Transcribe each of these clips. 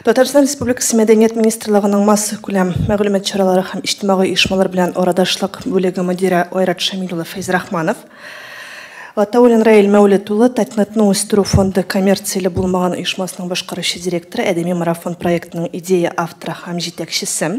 Татарстан Республикасы Мәдәният министрлыгының массакүләм мәгълүмат чаралары һәм иҗтимагый оешмалар белән арадашлык бүлеге мөдире Айрат Шамил улы Фәйзрахманов, Гатауллин Раил Мәүлет улы Татнетның үстерү фонды коммерцияле булмаган оешмасының башкаручы директоры, Әдәби марафон проектының идея авторы һәм җитәкчесе.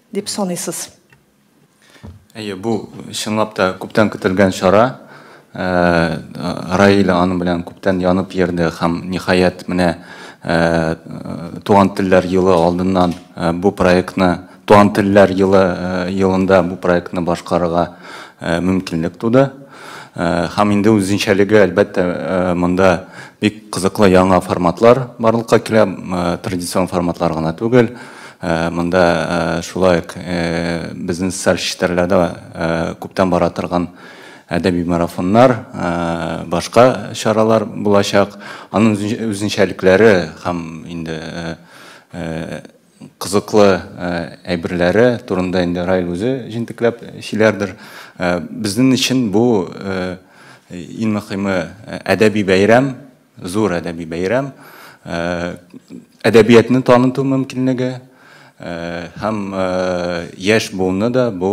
Дип саныйсыз? Әйе, бу чынлап та күптән көтелгән чара. Раиля аның белән күптән янып йөрде һәм ниһаять менә Туган телләр елы алдыннан бу проектны, Туган телләр елы елында бу проектны башкарырга мөмкинлек туды. Һәм инде үзенчәлеге, әлбәттә, монда бик кызыклы яңа форматлар барлыкка килә, традицион форматлар гына түгел. Монда шулай ук безнең социаль челтәрләрдә күптән бара торган әдәби марафоннар, башка чаралар булачак. Аның үзенчәлекләре һәм инде кызыклы әйберләре турында инде Раил үзе җентекләп сөйләрдер. Безнең өчен бу, иң мөхиме, әдәби бәйрәм. Зур әдәби бәйрәм, әдәбиятны таныту мөмкинлеге һәм яшь буынны да бу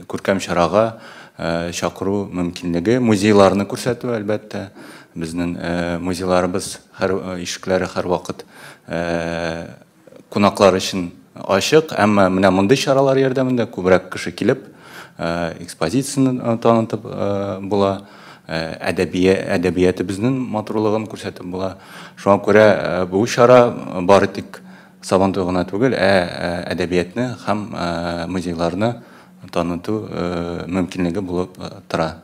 күркәм чарага чакыру мөмкинлеге, музейларны күрсәтү, әлбәттә, безнең музейларыбыз һәр ишекләре һәрвакыт кунаклар өчен ачык, әмма менә мондый чаралар ярдәмендә күбрәк кеше килеп, экспозицияне танытып була, әдәбиятебезнең матурлыгын күрсәтеп була. Шуңа күрә бу чара бары тик Сабантуй гына түгел, ә әдәбиятны һәм музейларны таныту мөмкинлеге булып тора.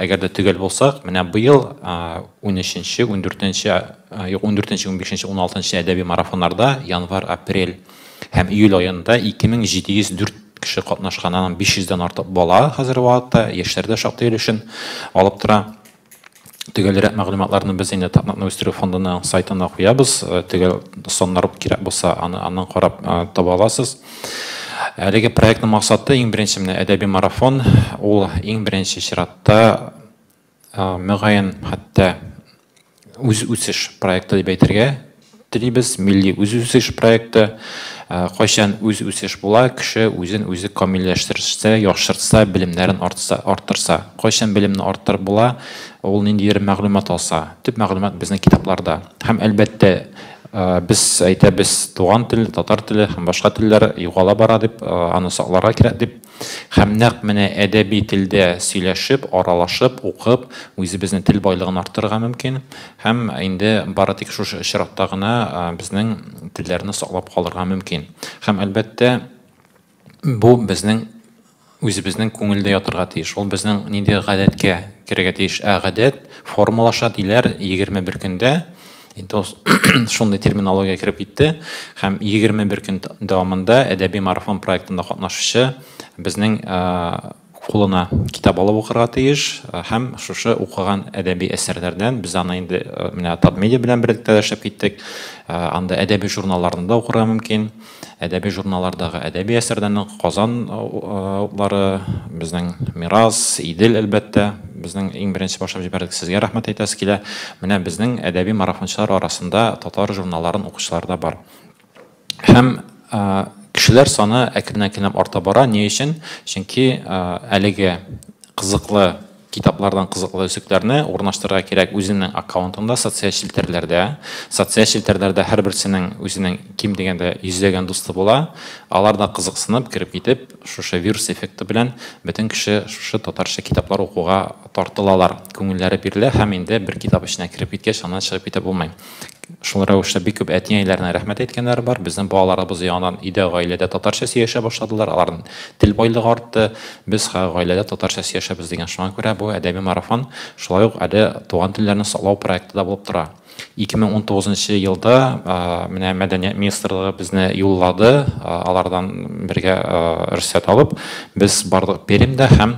Әгәр дә төгәл булсак, менә быел унөченче, ундүртенче, юк, ундүртенче, унбишенче, уналтынчы әдәби марафоннарда январь, апрель һәм июль аенда 2704 кеше катнашкан, аннан 500 дән артык бала хәзерге вакытта, яшьләр дә шактый өлешен алып тора. Төгәлрәк мәгълүматларны без инде Татнакны үстерү фондының сайтына куябыз, төгәл саннар кирәк булса, аны аннан карап таба аласыз. Әлеге проектның максаты, иң беренче менә әдәби марафон, ул иң беренче чиратта, мөгаен, хәтта үз үсеш проекты дип әйтергә телибез, милли үз үсеш проекты. Кайчан үз үсеш була, кеше үзен үзе камилләштерсә, яхшыртса, белемнәрен артса, арттырса. Кайчан белемне арттырып була, ул ниндидер мәгълүмат алса. Төп мәгълүмат безнең китапларда. Һәм, әлбәттә, Без әйтәбез, туган тел, татар теле һәм башка телләр югала бара дип, аны сакларга кирәк дип. Һәм нәкъ менә әдәби телдә сөйләшеп, аралашып, укып, үзебезнең тел байлыгын арттырырга мөмкин. Һәм инде бары тик шушы очракта гына безнең телләрне саклап калырга мөмкин. Һәм, әлбәттә, Бу безнең үзебезнең күңелдә ятырга тиеш. Ул безнең нинди гадәткә керергә тиеш? Ә гадәт формалаша диләр 21 көндә. Инде ул шундый терминология кереп китте. Һәм 21 көн дәвамында әдәби марафон проектында катнашучы безнең кулына китап алып укырга тиеш һәм шушы укыган әдәби әсәрләрдән без аны инде менә Татмедиа белән берлектә дә эшләп киттек. Анда әдәби журналларны да укырга мөмкин. Әдәби журналлардагы әдәби әсәрләрне Казан утлары, безнең Мирас, Идел, әлбәттә, безнең иң беренче башлап җибәрдек, сезгә рәхмәт әйтәсе килә. Менә безнең әдәби марафончылар арасында татар журналларын укучылар да бар. Һәм кешеләр саны әкрен-әкренләп арта бара. Ни өчен? Чөнки әлеге кызыклы китаплардан кызыклы өсекләрне урнаштырырга кирәк үзенең аккаунтында, социаль челтәрләрдә. Социаль челтәрләрдә һәрберсенең үзенең ким дигәндә йөзләгән дусты була. Алар да кызыксынып, кереп китеп, шушы вирус эффекты белән бөтен кеше шушы татарча китаплар укуга тартылалар, күңелләре бирелә һәм инде бер китап эченә кереп киткәч, аннан чыгып китеп булмый. Шул рәвештә бик күп әти-әниләренә рәхмәт әйткәннәре бар. Безнең балаларыбыз яңадан өйдә, гаиләдә татарча сөйләшә башладылар, аларның тел байлыгы артты. Без гаиләдә татарча сөйләшәбез дигән. Шуңа күрә бу әдәби марафон шулай ук әле Туган телләрне саклау проекты да булып тора. 2019 нчы елда менә Мәдәният министрлыгы безне юллады, алардан бергә рөхсәт алып, без бардык Пермьдә һәм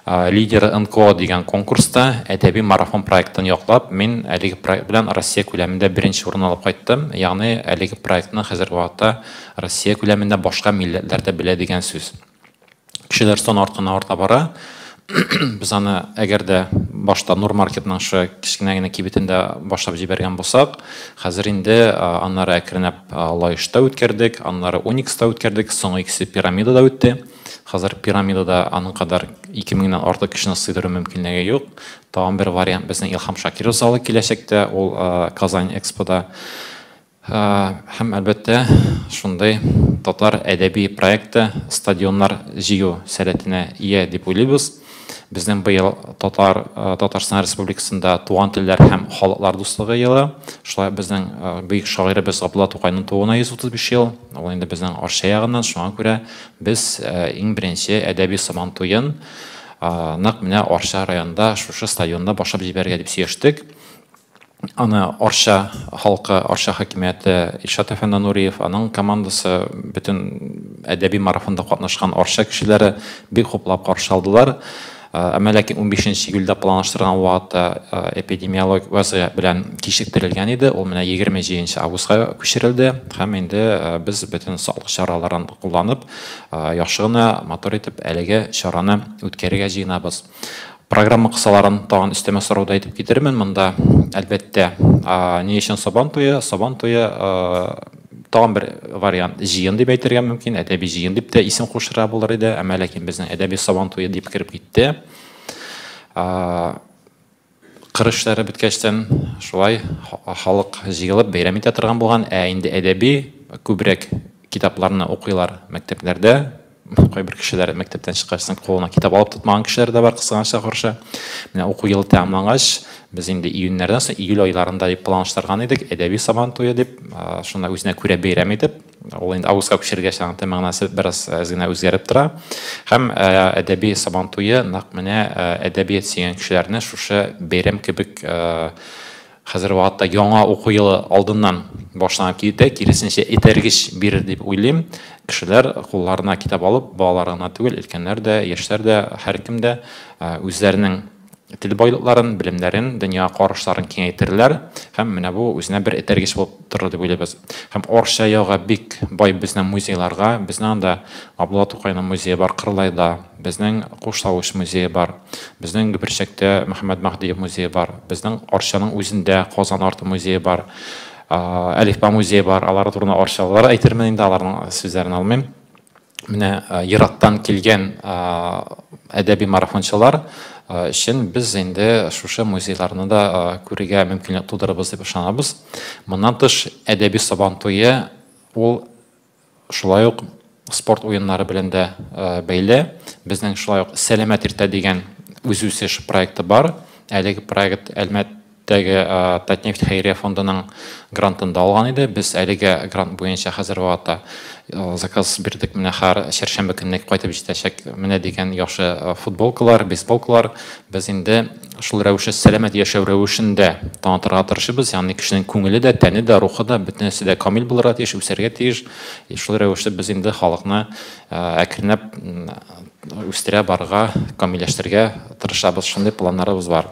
Лидеры НКО дигән конкурста әдәби марафон проектын яклап, мин әлеге проект белән Россия күләмендә беренче урын алып кайттым. Ягъни, әлеге проектны хәзерге вакытта Россия күләмендә башка милләтләр дә белә дигән сүз. Кешеләр саны артканнан-арта бара. Без аны, әгәр дә башта Нур маркетның шушы кечкенә генә кибетендә башлап җибәргән булсак, хәзер инде аннары әкренләп Лаешта үткәрдек, аннары Уникста үткәрдек, соңгы икесе Пирамидада үтте. Хәзер пирамидада аның кадәр ике меңнән артык кешене сыйдыру мөмкинлеге юк. Тагын бер вариант безнең Илһам Шакиров залы киләчәктә, ул Казань Экспода. Һәм әлбәттә, шундый татар әдәби проекты стадионнар җыю сәләтенә ия дип уйлыйбыз. Безнең быел Татар, Татарстан Республикасында Туган телләр һәм халыклар дуслыгы елы. Шулай безнең бөек шагыйребез Габдулла Тукайның тууына 135 ел. Ул инде безнең Арча ягыннан, шуңа күрә без иң беренче әдәби Сабан туен нәкъ менә Арча районында, шушы стадионда башлап җибәрергә дип сөйләштек. Аны Арча халкы, Арча хакимияте, Илшат әфәнде Нуриев, аның командасы, бөтен әдәби марафонда катнашкан Арча кешеләре бик хуплап каршы алдылар. Әмма ләкин унбишенче июльдә планлаштырылган вакытта эпидемиологик вазгыять белән кичектерелгән иде. Ул менә егерме җиденче августка күчерелде һәм инде без бөтен саклык чараларын кулланып, яхшы гына, матур итеп әлеге чараны үткәрергә җыенабыз. Программа кысаларын тагын өстәмә сорауда әйтеп китермен. Монда, әлбәттә, ни өчен Сабан туе? Сабан туе тагын бер вариант җыен дип әйтергә мөмкин, әдәби җыен дип тә исем кушырга булыр иде, әмма ләкин безнең әдәби Сабан туе дип кереп китте. Кыр эшләре беткәчтән шулай халык җыелып бәйрәм итә торган булган, ә инде әдәби күбрәк китапларны укыйлар мәктәпләрдә. Кайбер кешеләр мәктәптән чыккач соң кулына китап алып тотмаган кешеләр дә бар, кызганычка каршы. Менә уку елы тәмамлангач, без инде июньнәрдән соң, июль айларында дип планлаштырган идек, әдәби Сабан туе дип, шуны үзенә күрә бәйрәм итеп. Ул инде августка күчергәч, аның тәм мәгънәсе бераз әз генә үзгәреп тора. Һәм әдәби Сабан туе нәкъ менә әдәбият сөйгән кешеләрне шушы бәйрәм кебек хәзерге вакытта яңа уку елы алдыннан башланып китә, киресенчә этәргеч бирер дип уйлыйм. Кешеләр кулларына китап алып, балалар гына түгел, өлкәннәр дә, яшьләр дә, һәркем дә үзләренең тел байлыкларын, белемнәрен, дөнья карашларын киңәйтерләр һәм менә бу үзенә бер этәргеч булып торыр дип уйлыйбыз. Һәм Арча ягы бик бай безнең музейларга, безнең анда Абдулла Тукайның музее бар Кырлайда, безнең Куштавыч музее бар, безнең Гөберчәктә Мөхәммәд Маһдиев музее бар, безнең Арчаның үзендә Казан арты музее бар, Әлифба музее бар, алар турында арчалылар әйтермен инде, аларның сүзләрен алмыйм. Менә ерактан килгән әдәби марафончылар өчен без инде шушы музейларны да күрергә мөмкинлек тудырырбыз дип ышанабыз. Моннан тыш, әдәби Сабан туе ул шулай ук спорт уеннары белән дә бәйле. Безнең шулай ук Сәламәт иртә дигән үзүсеш проекты бар. Әлеге проект Әлмәт Теге Татнефть хәйрия фондының грантын да алган иде. Без әлеге грант буенча хәзер вакытта заказ бирдек. Менә хәр чәршәмбе көнне кайтып җитәчәк менә дигән яхшы футболкалар, бейсболкалар. Без инде шул рәвешле сәламәт яшәү рәвешен дә танытырга тырышыбыз. Ягъни кешенең күңеле дә, тәне дә, рухы да, бөтенесе дә камил булырга тиеш, үсәргә тиеш. Шул рәвешле без инде халыкны әкренләп үстерә барырга, камилләштерергә тырышабыз. Шундый планнарыбыз бар.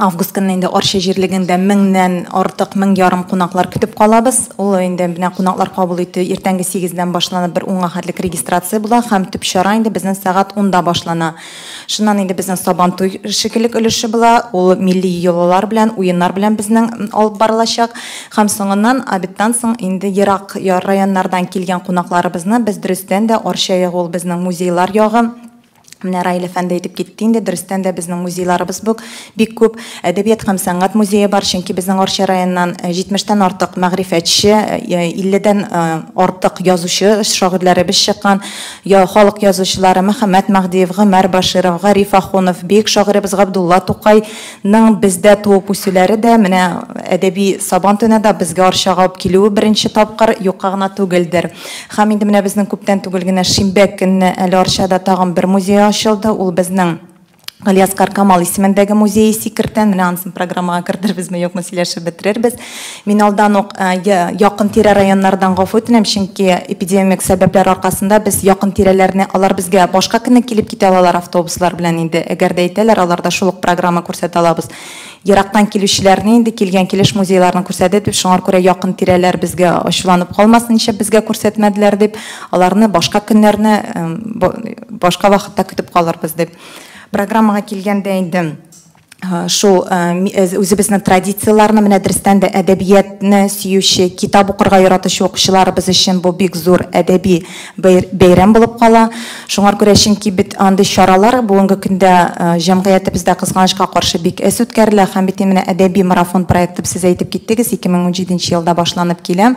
Август көнне инде Арча җирлегендә меңнән артык, мең ярым кунаклар көтеп калабыз. Ул инде менә кунаклар кабул итү иртәнге сигездән башланып, бер унга хәтлек регистрация була һәм төп чара инде безнең сәгать унда башлана. Шуннан инде безнең Сабантуй шикелек өлеше була, ул милли йолалар белән, уеннар белән безнең алып барылачак. Һәм соңыннан, обедтан соң инде ерак районнардан килгән кунакларыбызны без дөрестән дә Арча ягы, ул безнең музейлар ягы, Менә Раил әфәнде әйтеп китте инде, дөрестән дә безнең музейларыбыз бук бик күп. Әдәбият һәм сәнгать музее бар, чөнки безнең Арча районыннан 70 тән артык мәгърифәтче, 50 дән артык язучы шагыйрьләребез чыккан. Халык язучылары Мөхәммәт Мәһдиев, Гомәр Баширов, Гариф Ахунов, бөек шагыйребез Габдулла Тукай, ның бездә туып үсүләре дә, менә әдәби Сабан төне дә безгә Арчага алып килүе беренче тапкыр юкка гына түгелдер. Һәм инде менә безнең күптән түгел генә шимбә көнне әле Арчада тагын бер музей ачылды, ул безнең Галиәсгар Камал исемендәге музее Сикертә, менә анысын программага кертер безме, юкмы сөйләшеп бетерербез. Мин алдан ук якын тирә районнардан гафу үтенәм, чөнки эпидемик сәбәпләр аркасында без якын тирәләрне, алар безгә башка көнне килеп китә алалар автобуслар белән инде, әгәр дә әйтәләр, аларда шул ук программа күрсәтә алабыз. Ерактан килүчеләрне инде килгән килеш музейларны күрсәтә дип, шуңар күрә якын тирәләр безгә ачуланып калмасын, нишләп безгә күрсәтмәделәр дип, аларны башка көннәрне, башка вакытта көтеп калырбыз дип. Программага килгәндә инде. Э, шул э, э, үзебезнең традицияләрне менә дөрестән дә әдәбиятны сөюче китап укырга яратучы укучыларыбыз өчен бу бик зур әдәби бәйрәм булып кала шуңар күрә чөнки бит андый чаралар бүгенге көндә җәмгыятебездә кызганычка каршы бик әз үткәрелә һәм бит менә әдәби марафон проекты сез әйтеп киттегез 2017 елда башланып килә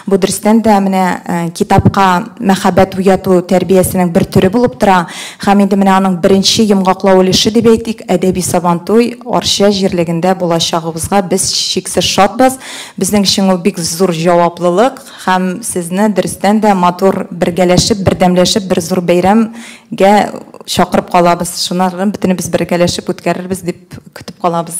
Бу дөрестән дә менә китапка мәхәббәт уяту тәрбиясенең бер төре булып тора. Һәм инде менә аның беренче йомгаклау өлеше дип әйтик, әдәби Сабантуй Арча җирлегендә булачагыбызга без чиксез шатбыз. Безнең өчен ул бик зур җаваплылык һәм сезне дөрестән дә матур бергәләшеп, бердәмләшеп бер зур бәйрәмгә чакырып калабыз. Шуны бөтенебез бергәләшеп үткәрербез дип көтеп калабыз.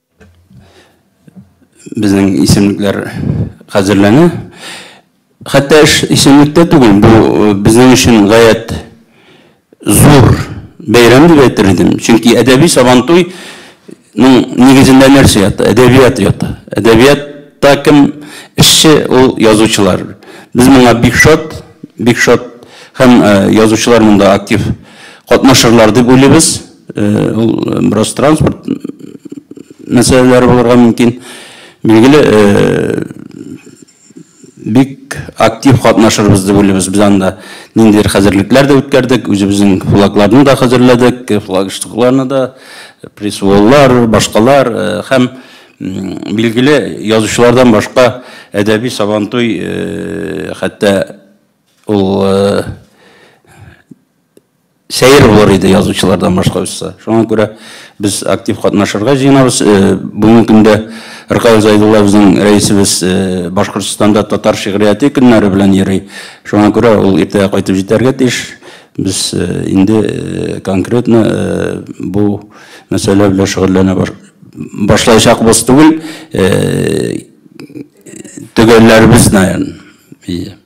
Безнең исемлекләр хәзерләнә. Хәтта эш исемлектә түгел, бу э, безнең өчен гаять зур бәйрәм дип әйтер идем. Чөнки әдәби сабантуй ну, нигезендә нәрсә ята? Әдәбият ята. Әдәбиятта кем эшче, ул язучылар. Без моңа бик шат, бик шат һәм э, язучылар монда актив катнашырлар дип уйлыйбыз. Ул бераз транспорт мәсьәләләре булырга мөмкин. Билгеле, бик актив катнашырбыз дип уйлыйбыз. Без анда ниндидер хәзерлекләр дә үткәрдек, үзебезнең флагларны да хәзерләдек, флагштыкларны да, пресс-воллар, башкалар һәм, билгеле, язучылардан башка әдәби Сабантуй, хәтта ул сәер булыр иде язучылардан башка очса. Шуңа күрә без актив катнашырга җыенабыз. Э, бүгенге көндә Ркаил Зайдулла безнең рәисебез э, Башкортстанда татар шигърияте көннәре белән йөри. Шуңа күрә ул иртәгә кайтып җитәргә тиеш. Без э, инде конкретно бу мәсьәлә белән шөгыльләнә башлаячакбыз түгел. Төгәлләрбез, наверное.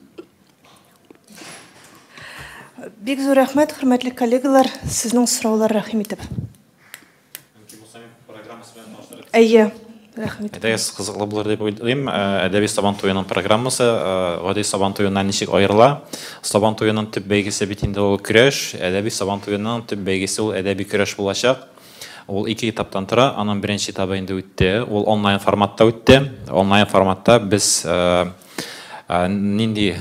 Бик зур рәхмәт, хөрмәтле коллегалар, сезнең сораулар рәхим итеп. Әйе, рәхим итеп. Әдәбият кызыклы булыр дип уйлыйм. Әдәби Сабан туеның программасы гади Сабан туеннан ничек аерыла? Сабан туеның төп бәйгесе бит инде ул көрәш. Әдәби Сабан туеның төп бәйгесе ул әдәби көрәш булачак. Ул ике этаптан тора. Аның беренче этабы инде үтте. Ул онлайн форматта үтте. Онлайн форматта без Нинди,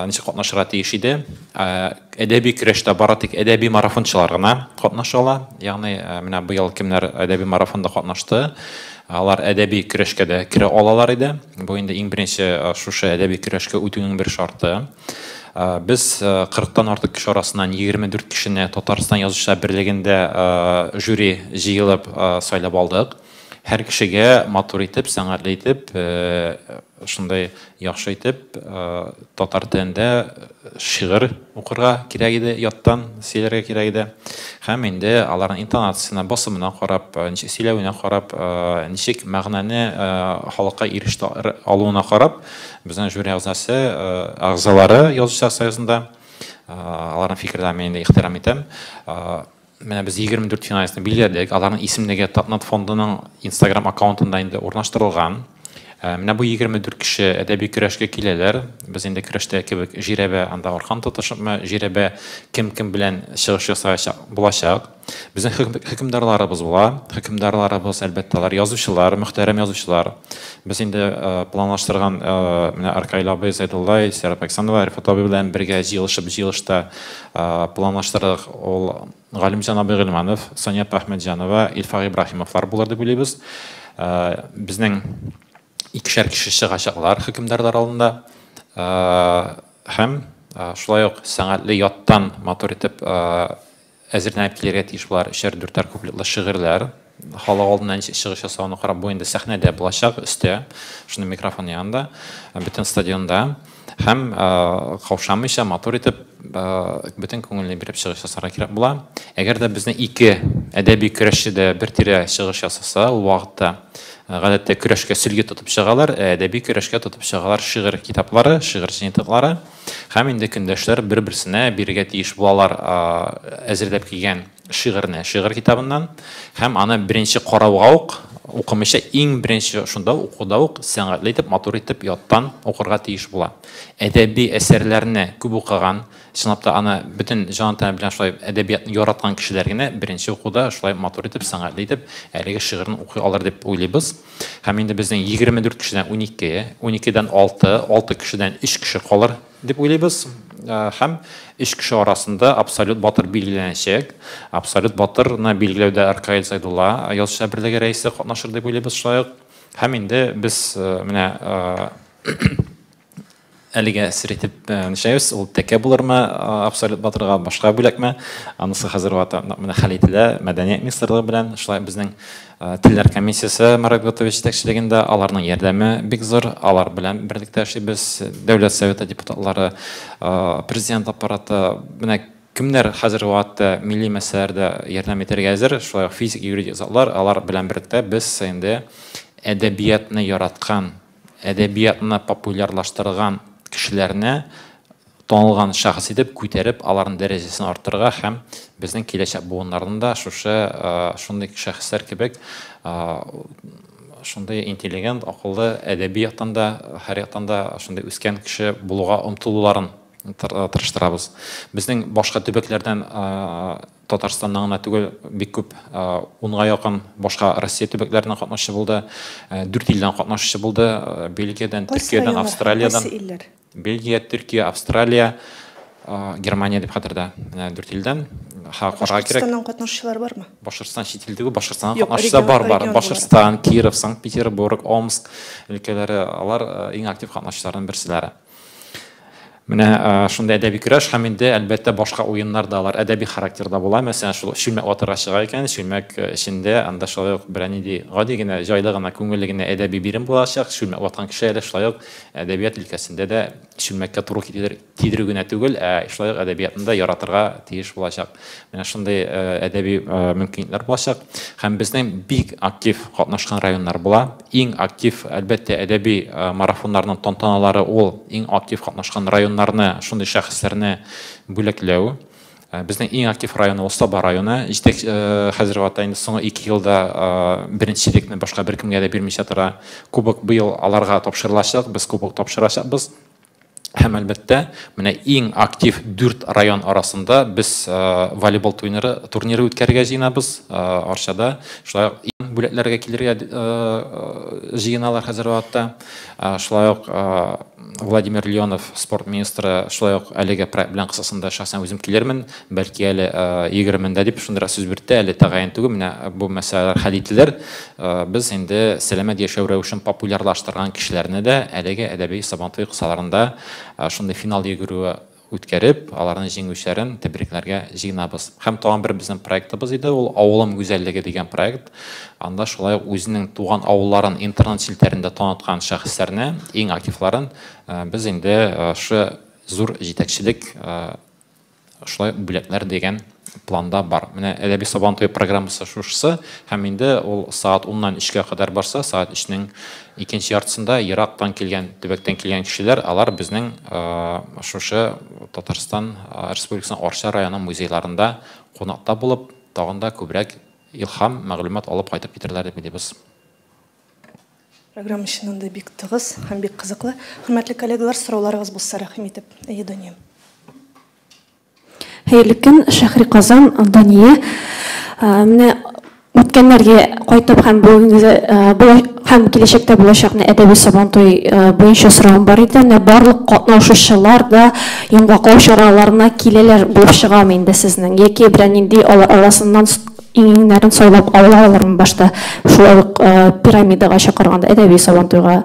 ничек катнашырга тиеш иде? Әдәби көрәштә бары тик әдәби марафончылар гына катнаша ала. Ягъни, менә быел кемнәр әдәби марафонда катнашты, алар әдәби көрәшкә дә керә алалар иде. Бу инде иң беренче шушы әдәби көрәшкә үтүнең бер шарты. Без 40 тан артык кеше арасыннан 24 кешене Татарстан Язучылар берлегендә жюри җыелып сайлап алдык. Һәр кешегә матур итеп, сәнгатьле итеп Шундай яхшы итеп татар телендә шигырь укырга кирәк иде, яттан сөйләргә кирәк иде. Һәм инде аларның интонациясенә, басымына карап, ничек сөйләвенә карап, ничек мәгънәне халыкка иреште алуына карап, безнең жюри әгъзасы, әгъзалары Язучылар союзында, аларның фикерләрен мин инде ихтирам итәм. Менә без 24 финалистны билгеләдек. Аларның исемлеге Татнат фондының Instagram аккаунтында инде урнаштырылган. Э, менә бу 24 кеше әдәби көрәшкә киләләр. Без инде көрәштә кебек жирәбә анда аркан тотышыпмы, жирәбә кем кем белән чыгыш ясаячак булачак. Безнең хөкемдарларыбыз була. Хөкемдарларыбыз, әлбәттә, алар язучылар, мөхтәрәм язучылар. Без инде э, планлаштырган э, менә Аркайлабый, Зайдуллай, Сәрәп Александрова, Рифат абый белән бергә җыелышып, җыелышта Планлаштырдык, ул Галимҗан абый Гыйльманов, Сания апа Әхмәтҗанова, Илфак Ибраһимовлар булыр дип уйлыйбыз. Безнең икешәр кеше чыгачаклар хөкемдарлар алдында. Һәм шулай ук сәнгатьле яттан матур итеп әзерләнеп килергә тиеш болар өчәр-дүртәр куплетлы шигырьләр. халык алдына ничек чыгыш ясавын карап, бу инде сәхнәдә булачак, өстә, шуның микрофон янында, бөтен стадионда һәм каушамыйча, матур итеп, бөтен күңелне биреп чыгыш ясарга кирәк була. Әгәр дә безнең ике әдәби көрәшче дә бер тирә чыгыш ясаса, ул вакытта гадәттә көрәшкә сөлге тотып чыгалар, ә әдәби көрәшкә тотып чыгалар шигырь китаплары, шигырь җыентыклары һәм инде көндәшләр бер-берсенә бирергә тиеш булалар әзерләп килгән шигырьне шигырь китабыннан һәм аны беренче карауга ук укымыйча иң беренче шунда укуда ук сәнгатьле итеп матур итеп яттан укырга тиеш була әдәби әсәрләрне күп укыган чынлап та аны бөтен җан тәне белән шулай әдәбиятны яраткан кешеләр генә беренче укуда шулай матур итеп сәнгатьле итеп әлеге шигырьне укый алыр дип уйлыйбыз һәм инде безнең егерме дүрт кешедән уникеге уникедән алты алты кешедән өч кеше калыр дип уйлыйбыз һәм өч кеше арасында абсолют батыр билгеләнәчәк. Абсолют батырны билгеләүдә Аркаил Сайдулла язучылар берлеге рәисе катнашыр дип уйлыйбыз шулай ук. Һәм инде без менә әлегә сер итеп нишәбез, ул тәкә булырмы абсолют батырга, башка бүләкме, анысы хәзер менә хәл ителә мәдәният министрлыгы белән, шулай безнең Телләр комиссиясе Марат Готович җитәкчелегендә, аларның ярдәме бик зур. Алар белән берлектә эшлибез. Дәүләт Советы депутатлары, Президент Аппараты, менә кемнәр хәзерге вакытта милли мәсьәләләрдә ярдәм итәргә әзер, шулай ук физик, юридик затлар, алар белән берлектә без инде әдәбиятны яраткан, әдәбиятны популярлаштырган кешеләрне танылган шәхес итеп күтәреп, аларның дәрәҗәсен арттырырга һәм безнең киләчәк буыннарны да шушы шундый шәхесләр кебек шундый интеллигент, акыллы, әдәби яктан да, һәр яктан да шундый үскән кеше булуга омтылуларын тырыштырабыз. Безнең башка төбәкләрдән Татарстаннан гына түгел, бик күп унга якын башка Россия төбәкләреннән катнашучы булды. Дүрт илдән катнашучы булды. Бельгиядән, Төркиядән, Австралиядән. Бельгия, Төркия, Австралия, Германия дип хәтердә. Менә дүрт илдән халыкара кирәк. Башкортстаннан катнашучылар бармы? Башкортстан чит ил түгел, Башкортстаннан катнашучылар бар, бар. Башкортстан, Киров, Санкт-Петербург, Омск өлкәләре, алар иң актив катнашучыларның берселәре. Менә шундый әдәби көрәш һәм инде, әлбәттә, башка уеннар да алар әдәби характерда була. Мәсәлән, шул чүлмәк ватарга чыга икән, чүлмәк эчендә анда шулай ук берәр нинди гади генә, җайлы гына, күңелле генә әдәби бирем булачак. Чүлмәк ваткан кеше әле шулай ук Әдәбият өлкәсендә дә чүлмәккә туры китерер, тидерү генә түгел, ә шулай ук әдәбиятны да яратырга тиеш булачак. Менә шундый э, әдәби э, мөмкинлекләр булачак. Һәм безнең бик актив катнашкан районнар була. Иң актив, әлбәттә, әдәби э, марафоннарның тантаналары ул иң актив катнашкан районнарны, шундый шәхесләрне бүләкләү. Э, безнең иң актив районы ул саба районы җитәк э, хәзерге вакытта инде соңгы ике елда э, беренчелекне башка беркемгә дә бирмичә тора кубок быел аларга тапшырылачак без кубок тапшырачакбыз һәм әлбәттә менә иң актив дүрт район арасында без волейбол турниры турниры үткәрергә җыенабыз арчада шулай ук иң бүләкләргә килергә җыеналар хәзерге вакытта шулай ук Владимир Леонов, спорт министры, шулай ук әлеге проект белән кысасында шәхсән үзем килермен, бәлки әле 20-ндә дип шундыйрак сүз бирде, әле тәгаен түгел, менә бу мәсьәләләр хәл ителер. Без инде сәламәт яшәү рәвешен популярлаштырган кешеләрне дә әлеге әдәби Сабантуй кысаларында шундый финал йөгерүе үткәреп, аларның җиңүчәрен тәбрикләргә җыенабыз. Һәм тагын бер безнең проектыбыз иде, ул Авылым гүзәллеге дигән проект. Анда шулай ук үзенең туган авылларын интернет челтәрендә таныткан шәхесләрне, иң активларын без инде шушы зур җитәкчелек шулай бүләкләр дигән планда бар. Менә Әдәби Сабан туе программасы шушысы һәм инде ул сәгать 10ннан 3кә кадәр барса, сәгать 3нең икенче яртысында ерактан килгән, төбәктән килгән кешеләр, алар безнең шушы Татарстан Республикасының Арча районы музейларында кунакта булып, тагын да күбрәк илһам, мәгълүмат алып кайтып китәрләр дип уйлыйбыз. Программа чыннан да бик тыгыз һәм бик кызыклы. Хөрмәтле коллегалар, сорауларыгыз булса, рәхим итеп. Әйе, Дания. Хәерле көн, Шәхри Казан, Дания. Менә үткәннәргә кайтып һәм бүгенге һәм киләчәктә булачакны әдәби Сабантуй буенча соравым бар иде. Менә барлык катнашучылар да йомгаклау чараларына киләләр булып чыгамы инде сезнең? Яки берәр нинди алар арасыннан иңеңнәрен сайлап алалармы башта шулай ук пирамидага чакырганда, әдәби Сабантуйга?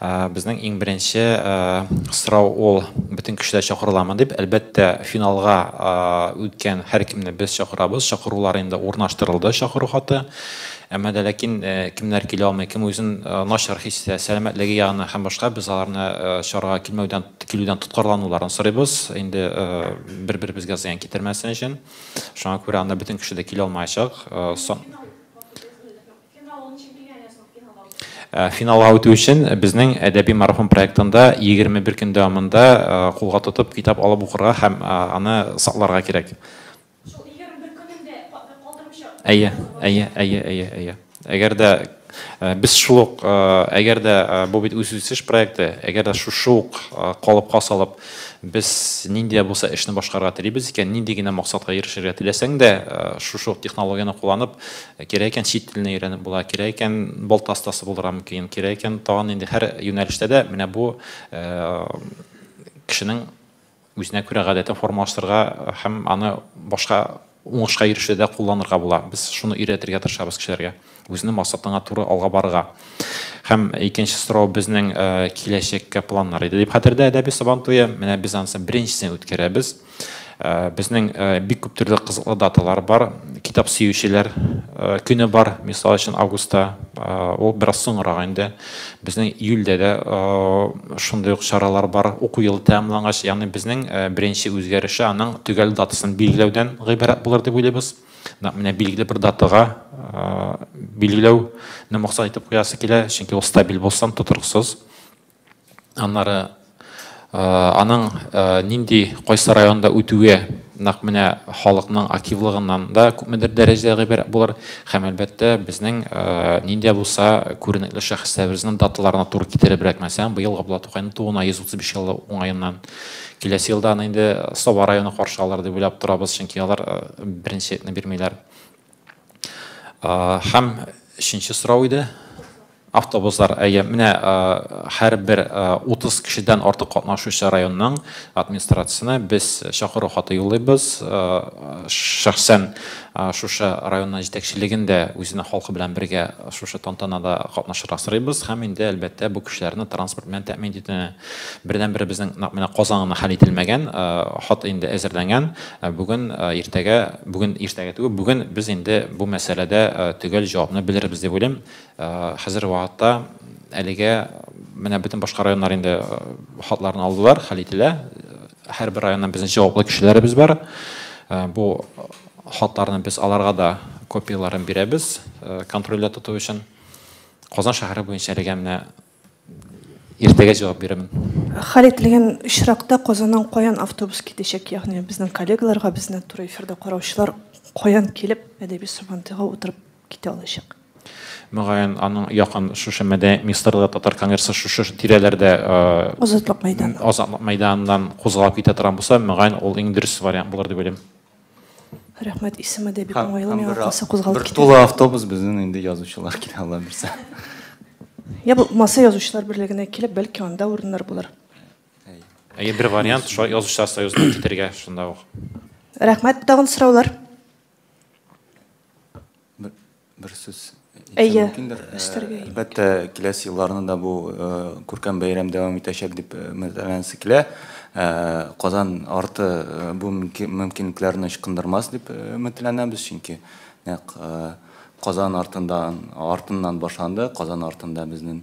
Безнең иң беренче сорау ул бөтен кешеләр чакырыламы дип. Әлбәттә, финалга үткән һәркемне без чакырабыз. Чакырулар инде урнаштырылды, чакыру хаты. Әмма дә ләкин кемнәр килә алмый, кем үзен начар хис итә, сәламәтлеге ягыннан һәм башка, без аларны чарага килмәүдән, килүдән тоткарлануларын сорыйбыз. Инде бер-беребезгә зыян китермәсен өчен. Шуңа күрә анда бөтен кеше дә килә алмаячак. Финал хакы безнең Финалга үтү өчен безнең Әдәби марафон проектында 21 көн дәвамында кулга тотып китап алып укырга һәм аны сакларга кирәк. Шул 21 көнен дә калдырмыйча. Әйе, әйе, әйе, әйе, әйе. Әгәр дә без шул ук, әгәр дә бу бит үзүсеш проекты, әгәр дә шушы ук калыпка салып, без нинди дә булса эшне башкарырга телибез икән, нинди генә максатка ирешергә теләсәң дә, шушы ук технологияне кулланып, Кирәк икән чит телне өйрәнеп була, кирәк икән балта остасы булырга мөмкин, кирәк икән тагын инде һәр юнәлештә дә менә бу кешенең үзенә күрә гадәтен формалаштырырга һәм аны башка уңышка ирешүдә кулланырга була. Без шуны өйрәтергә тырышабыз кешеләргә. Үзенең максатыңа туры алга барырга. Һәм икенче сорау безнең киләчәккә планнар иде дип хәтердә әдәби Сабан туе. Менә без анысы беренчесен үткәрәбез. Безнең бик күп төрле кызыклы даталар бар. Китап сөючеләр көне бар, мисал өчен августта. Ул бераз соңрак инде. Безнең июльдә дә шундый ук чаралар бар. Уку елы тәмамлангач, ягъни безнең беренче үзгәреше аның төгәл датасын билгеләүдән гыйбарәт булыр дип уйлыйбыз. Нәкъ менә билгеле бер датага билгеләүне максат итеп куясы килә, чөнки ул стабиль булсын, тотрыксыз. Аннары аның нинди, кайсы районда үтүе нәкъ менә халыкның активлыгыннан да күпмедер дәрәҗәдә гыйбарәт булыр һәм, әлбәттә, безнең нинди булса күренекле шәхесләребезнең даталарына туры китеребрәк. Мәсәлән, быел Габдулла Тукайның тууына 135 ел уңаеннан. Киләсе елда аны инде Саба районы каршы алыр дип уйлап торабыз, чөнки алар беренчелекне бирмиләр. Һәм өченче сорау иде. Автобуслар. Әйе, менә һәрбер 30 кешедән артык катнашучы районның администрациясенә без чакыру хаты юллыйбыз. Шәхсән шушы районның җитәкчелеген дә үзенең халкы белән бергә шушы тантанада катнашырга сорыйбыз һәм инде, әлбәттә, бу кешеләрне транспорт белән тәэмин итүне Бердәнбер безнең нәкъ менә Казан гына хәл ителмәгән, хат инде әзерләнгән. Бүген, иртәгә, бүген иртәгә түгел, бүген без инде бу мәсьәләдә төгәл җавапны белербез дип уйлыйм. Хәзерге вакытта әлегә менә бөтен башка районнар инде хатларын алдылар, хәл ителә. Һәрбер районнан безнең җаваплы кешеләребез бар. Бу хатларны без аларга да копияләрен бирәбез, контрольдә тоту өчен. Казан шәһәре буенча әлегә менә Иртәгә җавап бирәмен. Хәл ителгән очракта Казаннан каян автобус китәчәк, ягъни безнең коллегаларга, безне туры эфирда караучылар каян килеп Әдәби Сабантуйга утырып китә алачак? Мөгаен, аның якын шушы Мәдәният министрлыгы, Татар конгрессы шушы тирәләрдә, Азатлык мәйданы. Азатлык мәйданыннан кузгалып китә торган булса, мөгаен, ул иң дөрес вариант булыр дип уйлыйм. Рәхмәт, исеме дә бик уңайлы, миңа калса кузгалып китәр. Бер тулы автобус безнең инде язучылар килә, Алла бирсә. Я булмаса язучылар берлегенә килеп, бәлки анда урыннар булыр. Әйе, бер вариант, шулай язучылар союзына китәргә, шунда ук. Рәхмәт, тагын сораулар? Бер сүз әйтсәм мөмкиндер? Әйе, өстәргә кирәк. Әлбәттә, киләсе елларны да бу күркәм бәйрәм дәвам итәчәк дип өметләнәсе килә. Казан арты бу мөмкинлекләрне ычкындырмас дип өметләнәбез, чөнки нәкъ Казан артыннан башланды, Казан артында безнең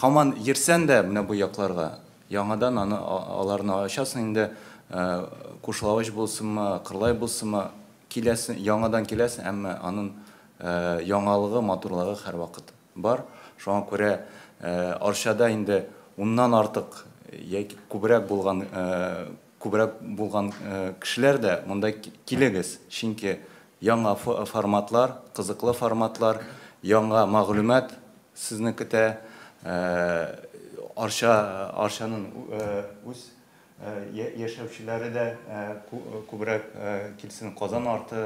Хаман йөрсән дә менә бу якларга, яңадан аны аларны ачасың инде, Кушлавыч булсынмы, Кырлай булсынмы, киләсең, яңадан киләсең, әмма анын яңалыгы, матурлыгы һәрвакыт бар. Шуңа күрә Арчада инде уннан артык яки күбрәк булган Күбрәк булган кешеләр дә монда килегез, чөнки яңа форматлар, кызыклы форматлар, яңа мәгълүмат сезне көтә. Арча, Арчаның үз яшәүчеләре дә күбрәк килсен, Казан арты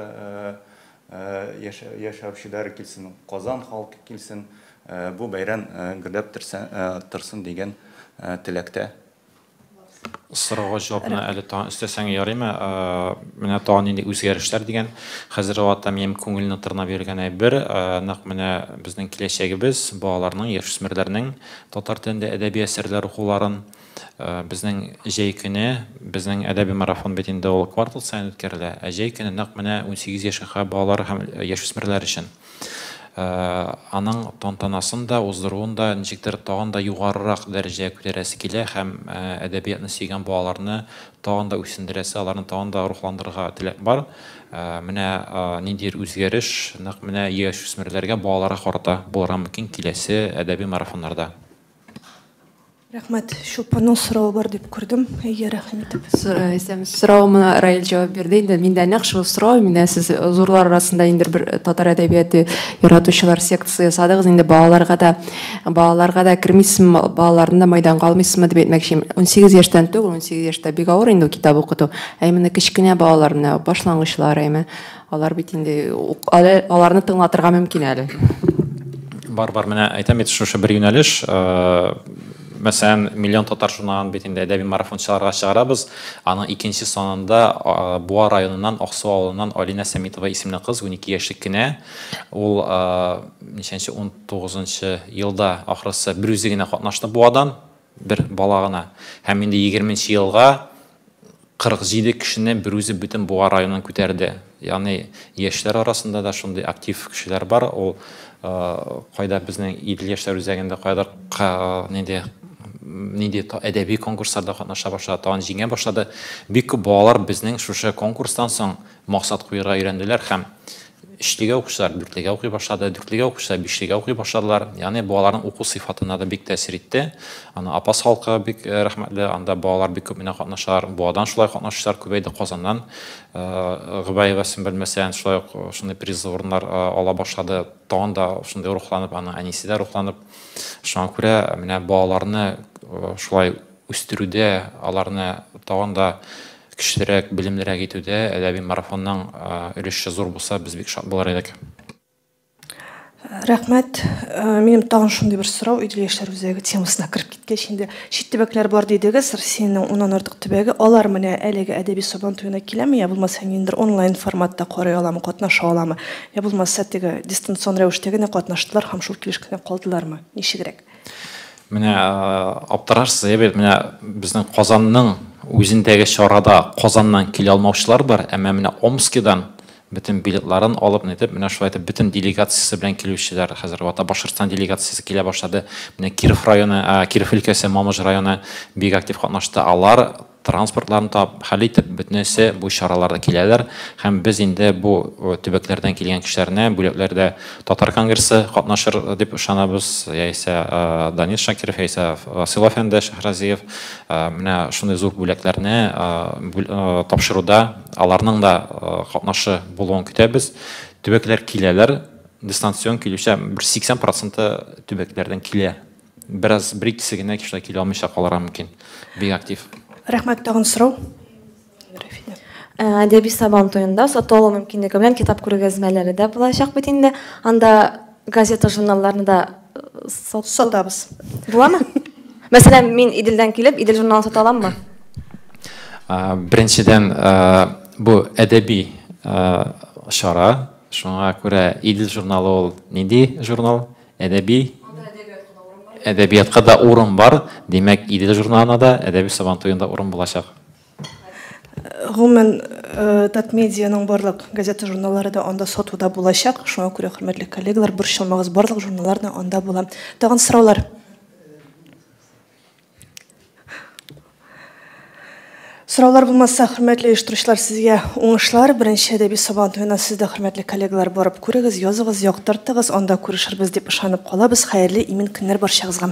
яшәүчеләре килсен, Казан халкы килсен, бу бәйрәм гөрләп торсын дигән теләктә. Сорауга җавапны әле тагын өстәсәң ярыймы? Менә тагын нинди үзгәрешләр дигән. Хәзер вакытта минем күңелне тырнап йөргән әйбер, нәкъ менә безнең киләчәгебез, балаларның, яшүсмерләрнең татар телендә әдәби әсәрләр укуларын. Безнең җәй көне, безнең әдәби марафон бит инде ул квартал саен үткәрелә, ә җәй көне нәкъ менә унсигез яшькә балалар һәм яшүсмерләр өчен. Аның тантанасын да, уздыруын да ничектер тагын да югарырак дәрәҗәгә күтәрәсе килә һәм әдәбиятны сөйгән балаларны тагын да үсендерәсе, аларны тагын да рухландырырга теләк бар. Менә ниндидер үзгәреш нәкъ менә яшүсмерләргә, балаларга карата булырга мөмкин киләсе әдәби марафоннарда. Рәхмәт. Чулпанның соравы бар дип күрдем. Әйе, рәхим итеп. Исәнмесез. Соравыма Раил җавап бирде инде. Мин дә нәкъ шул сорау, мин дә сез зурлар арасында инде бер татар әдәбияты яратучылар секциясе ясадыгыз инде, балаларга да, балаларга да кермисезме, балаларны да майданга алмыйсызмы дип әйтмәкче. Унсигез яшьтән түгел, унсигез яшьтә бик авыр инде ул китап укыту. Ә именно кечкенә балаларны, башлангычлар, әйме. Алар бит инде әле аларны тыңлатырга мөмкин әле. Бар, бар, менә әйтәм бит шушы бер юнәлеш, мәсәлән, миллион татар журналын бит инде әдәби марафончыларга чыгарабыз. Аның икенче санында Буа районыннан, Аксу авылыннан Алинә Сәмитова исемле кыз, унике яшьлек кенә. Ул ничәнче, унтугызынчы елда, ахрысы, берүзе генә катнашты Буадан, бер бала гына. Һәм инде егерменче елга 47 кешене берүзе бөтен Буа районын күтәрде. Ягъни яшьләр арасында да шундый актив кешеләр бар. Ул кайда безнең Идел яшьләр үзәгендә кайдыр нинди нинди әдәби конкурсларда катнаша башлады, тагын җиңә башлады. Бик күп балалар безнең шушы конкурстан соң Максат куярга өйрәнделәр һәм өчлегә укучылар дүртлегә укый башлады, дүртлегә укучылар бишлегә укый башладылар. Ягъни бу аларның уку сыйфатына да бик тәэсир итте. Аны Апас халкы бик э, рәхмәтле, анда балалар бик күп менә катнашалар. Буадан шулай катнашучылар күбәйде, Казаннан э, Гыбаева Сөмбел Мәсән шулай ук шундый призлы урыннар э, ала башлады. Тагын да шундый рухланып, аның әнисе дә рухланып. Шуңа күрә менә балаларны шулай үстерүдә, аларны тагын да көчлерәк, белемлерәк итүдә әдәби марафонның өлеше зур булса, без бик шат булыр идек. Рәхмәт. Минем тагын шундый бер сорау, Идел яшьләр үзәге темасына кереп киткәч инде. Чит төбәкләр бар дидегез, Россиянең уннан артык төбәге. Алар менә әлеге әдәби Сабан туена киләме, я булмаса ниндидер онлайн форматта карый аламы, катнаша аламы? Я булмаса теге дистанцион рәвештә генә катнаштылар һәм шул килеш кенә калдылармы? Ничегрәк? Менә аптырашсыз, әйе бит, менә безнең Казанның үзендәге чарада Казаннан килә алмаучылар бар, әмма менә Омскидан бөтен билетларын алып, нитеп, менә шулай итеп бөтен делегациясе белән килүчеләр хәзер вата Башкортстан делегациясе килә башлады. Менә Киров районы, Киров өлкәсе Мамыж районы бик актив катнашты. Алар транспортларын таб, хәл итеп, бөтенесе бу чараларда киләләр һәм без инде бу төбәкләрдән килгән кешеләрне бүләкләрдә татар конгрессы катнашыр дип ышанабыз, яисә Данис Шакиров, яисә Васил әфәнде Шәһразиев менә шундый зур бүләкләрне тапшыруда аларның да катнашы булуын көтәбез. Төбәкләр киләләр, дистанцион килүче бер 80 проценты төбәкләрдән килә. Бераз бер икесе генә шулай килә алмыйча калырга мөмкин. Бик актив. Рәхмәт тагын сорау. Рәфинә. Әдәби Сабан туенда сату алу мөмкинлеге белән китап күргәзмәләре дә булачак бит инде. Анда газета журналларны да сатабыз. Буламы? Мәсәлән, мин Иделдән килеп, Идел журналын сата аламмы? Беренчедән, бу әдәби чара, шуңа күрә Идел журналы ул нинди журнал? Әдәби әдәбиятка да урын бар, димәк, Идел журналына да, әдәби сабантуенда урын булачак. Гомумән, э, Татмедианың барлык газета журналлары да анда сатуда булачак. Шуңа күрә, хөрмәтле коллегалар, борчылмагыз, барлык журналлар да анда була. Тагын сораулар? Сораулар булмаса, хөрмәтле оештыручылар, сезгә уңышлар. Беренче әдәби сабан туена сез дә, хөрмәтле коллегалар, барып күрегез, языгыз, яктыртыгыз, анда күрешербез дип ышанып калабыз. Хәерле, имин көннәр барчагызга!